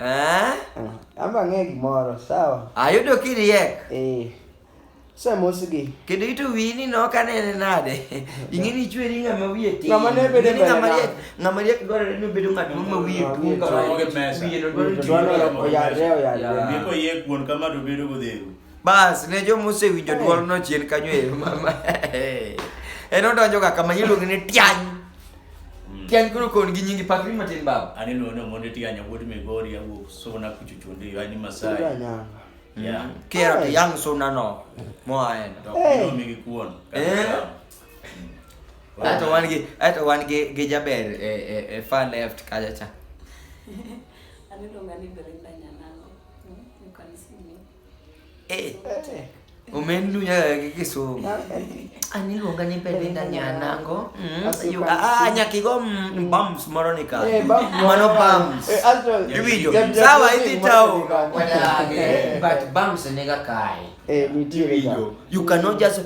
Eh? Amba ng'e gimoro, sawa? Ayudo kiriek. Eh. Samosgi. Kendo ito wini no ka nene nade. Ing'e ni chweri ng'ama wiye tin. Ng'ama ne bedo mbele. Ng'ama riek, ng'ama riek dwarore ni obedo ng'at ma wiye tuo kama. Wiye no dwarore ni oyarre oyarre. Ndiko yie kuon kama to bedo godheru. Bas, ne jo mose winjo eh. duol no chien kanyo e mama. En odonjo ga kama iluongo ni tiany. Mm. Tiany koro kon gi nyingi pakri matin baba. Ani no no monde tianya wuod Migori ya wuok sona kuchuchunde yo ani Masai. Yeah. Mm. Kera to yang sona no. Mo aen. To no mi gi kuon. Eh. Mm. Ato wan gi ato wan gi gi jaber e e e far left kaja cha. Ani no ngani Belinda nyanango. Eh. eh. Umenilunya lagi kisu. Ani lu ngani pede ndani ya nango. Hmm. Yu ah nyaki go mm, bums moronika. Eh, Mano bums. Eh, Astral. Video. Sawa hivi tao. Wala eh, but bums nega kai. Eh, ni video. You cannot just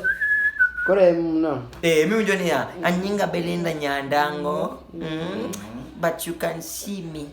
Kore mno. Eh, mimi unjoni ya. Anyinga belenda nyandango. Mm. But you can see me.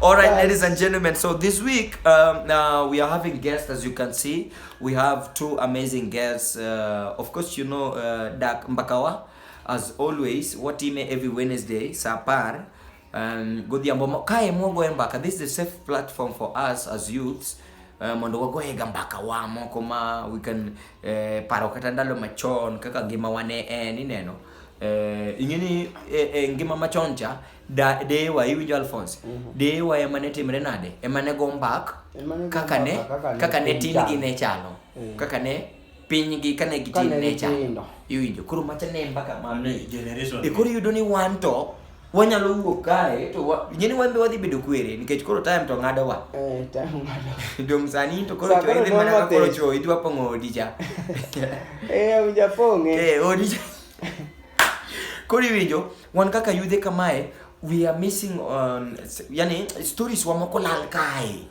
All right, yes. ladies and gentlemen. So this week um, uh, we are having guests, as you can see. We have two amazing guests. Uh, of course, you know uh, Dak Mbakawa, as always. What ime every Wednesday, Sapar. Um, Godhiambo kae mwogo e mbaka. This is a safe platform for us as youths Eh, mondo wagoyega mbaka wa moko ma we can eh, paro kata ndalo machon kaka ngima wane en ineno eh, ing'eni eh, eh, ngima machon cha Da, deyewa iwinjo alphonse Mhm. deyewa ema ne timre nade ema ne go mbak Ema ne go kaka ne mbaka kaka ne kaka ne piny tingi chalo. ne chalo Eh. kaka ne pinygi kane gitin Kane ne chalo gitindo. iwinjo koro macha ne mbaka ma Ni generation. e koro iyudo ni wan to wanyalo wuok kae to wa- nyeni wan be wadhi bedo kwere nikech koro time to ng'adowa Eh, time ng'ado. dong sani to koro Sa koro choidhi mana ka koro nwamathe. cho idwa pong'o odi cha Eh, ujapong'e. Eh, odi cha koro iwinjo Wan kaka yudhe kamae we are missing on yani stories wa moko lal kae.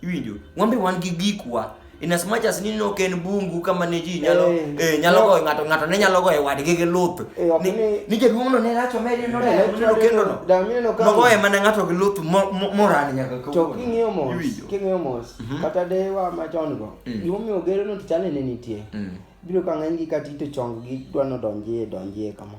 Iwinjo? Wambe wan gi gikwa in as much as ni no ken bungu kama ne ji nyalo eh, eh nyalo go ngato ngato ne nyalo go e wadgi gi luth eh, ni ni jaduong no ne racho meri no ne no kendo no da mi no ka no go e mana ngato gi luth moran nyaka ko to kingiyo mos kingiyo mos mhm. kata de wa ma chon go mm. gimo mi ogero no tichane ne nitie mm. biro ka ng'eny gi kati to chong gi dwano donjie donjie kama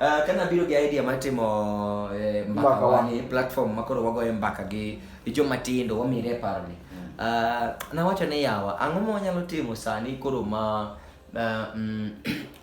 Uh, kana biro gi idea mar timo eh, mbaka wani platform ma koro wagoye mbaka gi joma tindo wamire e paro ni uh, nawacho ni yawa ang'o ma wanyalo timo sani koro ma uh, mm,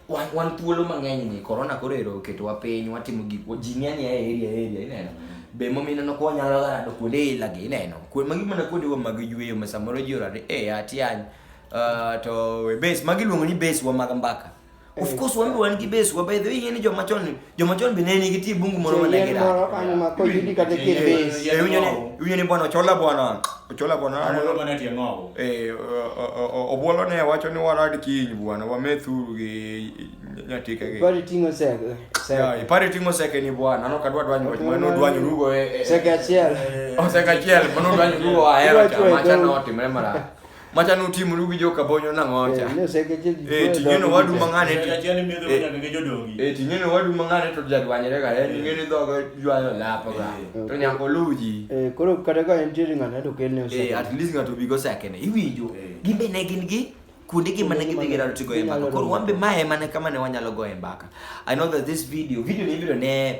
wan, wan thuolo mang'eny ni korona koro ero oketowa piny watimo gik ji ng'eny e area area ineno mm. be momino no kwa nyalo rado kuonde ila gi ineno kuwe magi mana kuonde wa mag yueyo ma samoro ji orade e eh, atiany uh, to base magi luongo ni base wa mag mbaka Of eh, course wambe wan gi base wa by the way yeni joma chon joma chon be ne nigi ti bungu moro ma ne gira. Moro kanyo ma ko yudi kata ke base. Ye winyo ni winyo ni bwana ochola bwana. Ochola bwana. Ano bwana ti ng'o. Eh obwolo ne wacho ni warad kiny bwana wamethuru gi nyatika gi. Bari tingo sege. Ya, ipari tingo sege ni bwana. Ano kadwa dwanyo wach mano dwanyo rugo e. Sege achiel. O sege achiel mano dwanyo rugo ahero chama chano timre mara. macha notimru gi joka bonyo nang'ocha eh, ting'eno wadu mang'ane eh, ting'eno wadu mang'ane to jadwanyre ga en eh, ing'eni dhogo ywayo lapo ga to nyako luji koro kata ka entiere ng'ane to kelne at least ng'ato bigo sekene iwinjo gimbe ne gin gi kuonde gi mane gidhi girado ti goye mbaka koro wan be ma ema ne kama ne wanyalo goye mbaka i know that this video video ni ibiro ne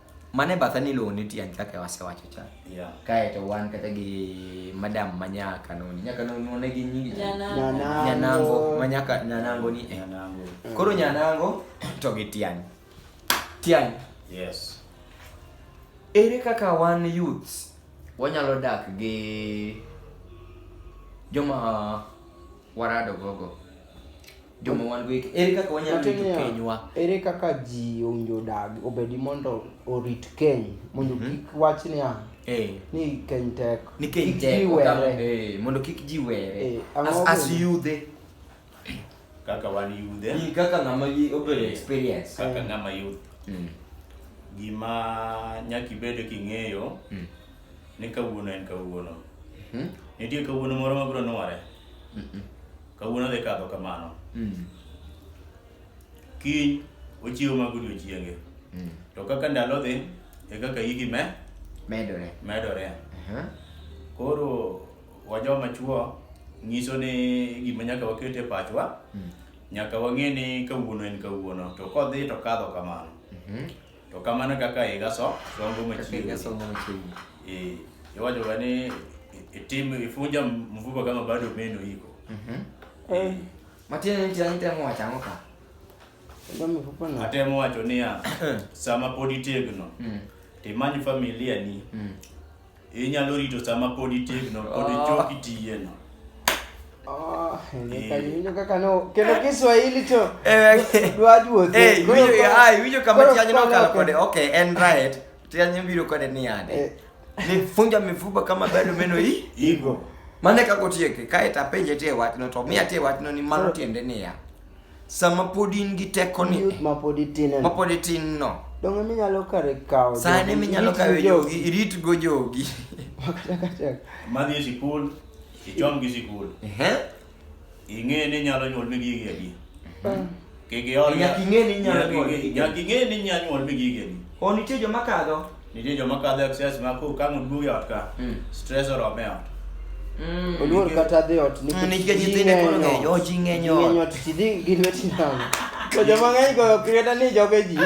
mane batha ni iluongo ni tiang' kaka wasewacho cha Yeah. kae to wan kata gi madam manya kanoni nya kanoni one gi nyingi cha? Nyanango. nyanango manya ka- nyanango ni eh. Nyanango. koro nyanango to gi tiang' tiang' Yes. ere kaka wan youths wanyalo dak gi joma warado gogo joma wan go ere kaka wanyalo rito kenywa ere kaka ji owinjo odag obedi mondo orit keny mondo mhm. kik wach niya eh. ni keny tek ni keny tek eh, mondo kik ji were eh, as yudhe kaka wan yudhe kaka ng'ama obedo experience kaka ng'ama yudh mm. gima nyaka ibed king'eyo mm. ni kawuono en kawuono mhm. nitie kawuono moro mabiro nwore Kawuono dhi kadho kamano. Mm. Kiny ochiew mag odiochienge. Mm. To kaka ndalo dhi, e kaka higi me medore. Medore. Uh-huh. Koro wajoma chuo nyiso ni gima nyaka waket e pachwa. Mm. Nyaka wang'e ni kawuono en kawuono to kodhi to kadho kamano. Mm-hmm. To kamano kaka higa so, songo Kaka machiegni. higa songo machiegni. Eh, iwacho ga ni itim ifunja mvuba kama bado meno iko. Mhm. Eh, Matiende ni tiang' temo wacho ang'o ka? ndio mifupa na. Atemo wacho niya, sama pod itegno, Mm. timany familia ni, Mm. Inyalo rito sama pod itegno, pod Ah. ichok itiyeno. Ah, nyaka iwinjo kaka no kendo Kiswahili to dwa duoth. Eh, Koro- iwinjo- koro- ah, iwinjo kama koro tianyi koro- nokalo kode okay en right tianyi biro kode ni yade nifunja mifupa kama bado meno hii Igo. mane kakotieke kae tapenje tie wachno to miya tie wachno ni mano tiende niya sama pod in gi tekoni youth ma pod itin ma pod itin no donge ema inyalo kare kawo saa ema inyalo kawo jogi irit go jogi madhi e sikul ichom gi sikul ing'e ni inyalo nyuol mi gigi adi mm. kik iol nyaka ing'e ni inyalo nyuol mi gigi adi o nitie joma kadho Nitie joma kadho excess ma ko kang' oduog e ot ka, Mm. stress orome e ot. Mm. oluor kata dhi ot Mm, nikech nyithindo koro ng'eny, oh, ji ng'eny ot. ng'eny ot ji dhi gi lweti namo to joma ng'eny goyo kreta ni joge ji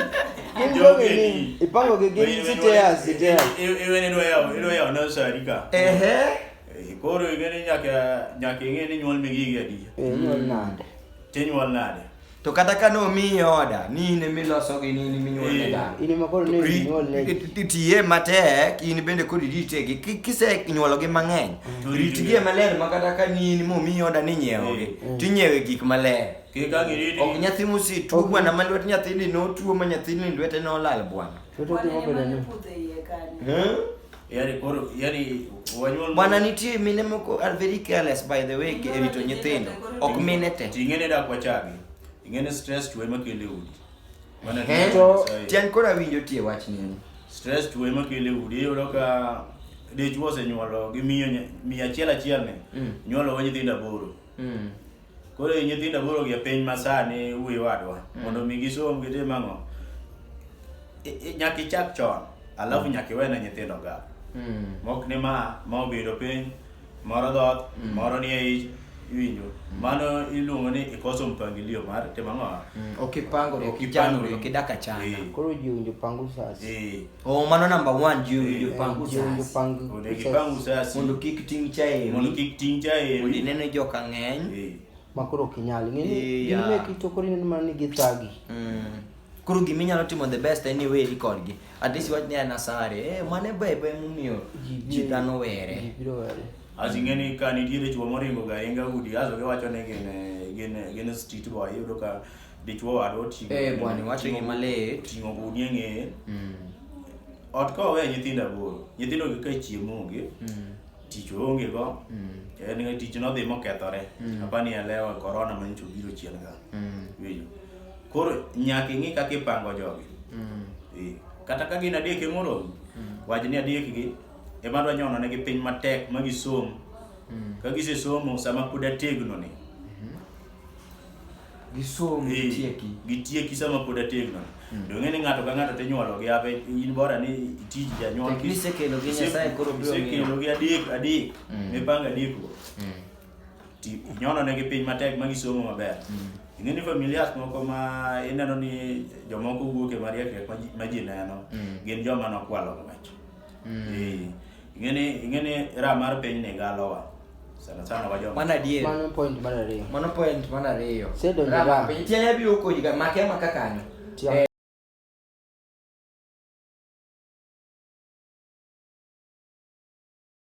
gin joge ni ipango gi gin siteas siteas Iwe ni dwayawo, idwayawo nursery ka. Ehe. Eh, Koro ing'e ni nyaka nyaka ing'e ni nyuol migi gi adi. inyuol nade Tinyuol nade? To kata ka nomiyi oda, ni in ema iloso gi ni in ema inyuol ne dhano. In ema koro ne inyuol ne ji. Ti- Tiye matek, in bende kod ritegi. Ki- Kisenyuologi mang'eny, To ritgi ritgi. maler ma kata ka ni in momiyi oda ni nyiewogi, Mm. to inyiewe gik maler. Kik ang' iriti. Ok nyathi mosetuo Ok. bwana ma lwet nyathini notuo ma nyathini lwete nolal bwana. Toto Wan timo ema bende ne ni. pudhe iye kanyo. Eh? Yaani koro yaani wanyuol Bwana nitie mine moko are very careless by the way e rito nyithindo. Ok mine te. Tingene dak wachagi. Ingene stress tuwe makele udi. Mana to tian koro awinjo tie wach nini. Stress tuwe makele udi iyudo ka dichwo osenyuolo gi miyo miyo achiel achiel ne. Mm. Nyuolo nyithindo aboro. Mm. Koro nyithindo boro gi piny masani wuoyo wadwa mm. mondo mi gisom gitim ang'o? Nyaka ichak chon alafu mm. nyaka iwene nyithindo ga. Mm. Mok ni ma ma obedo piny moro dhoth mm. moro nie ich iwinjo mm. mano iluongo ni ikoso mpangilio mar timo ang'o? Mm. Ok ipangori, ok ichanori, ok idak achana. Eh. Koro ji owinjo pango sasi. Eh. Oh, mano number one juu eh, juu pangu sasa. Onegi pangu sasa. Mondo kik ting cha e. Mondo kik ting cha e. Mondo nene jo ka ng'eny. Eh. Makoro kinyali. Ng'eni eh, yeah. gime kitokori nene mani githagi. Mm. Koro gima inyalo timo the best en ni weri kodgi. At least wach ni ana sare. Eh, mane bebe mumiyo ji dhano were. Ji biro were. Asi ng'eni ka nitiere chwo moringo ga inga udi aso giwacho ni gin gin gin street boy yudo ka dichwo wadwa oting'o Eh, bwana, iwacho oting'o- gima lit. oting'o gudi e ng'eye Mm. ot ka owe nyithindo aboro nyithindo gi ka chiemo onge Mm. tich oonge go Mm. en ga tich nodhi mokethore Mm. apa ni elewa korona ma nyocha obiro chien ga Mm. winjo koro nyaka ing'i kaka ipango jogi Mm. Eh, kata ka gin adek emoromi Mm. wach ni adek gi ema dwa nyono negi piny matek ma gisom Mm. ka gisesomo sama pod ategno ni gisom eh, gitieki gitieki sama pod ategno hmm. to ng'e ni ng'ato ka ng'ato tinyuolo gi ape in bora ni tij janyuol kisekelo gi nyasaye koro biro kisekelo gi adek adek hmm. mipanga adek go hmm. ti nyono ne gi piny matek ma gisomo maber ing'e ni familias moko ma ineno ni jomoko wuok e mariek ma ji neno gin joma nokwalo ng'wech Mm. Eh, ing'eni ing'eni ra mar piny ni galowa sana sana wajo mano adier mano point mar ariyo mano point mar ariyo sedo ni ra piny tiene biro koji ga make ma kakanyo eh.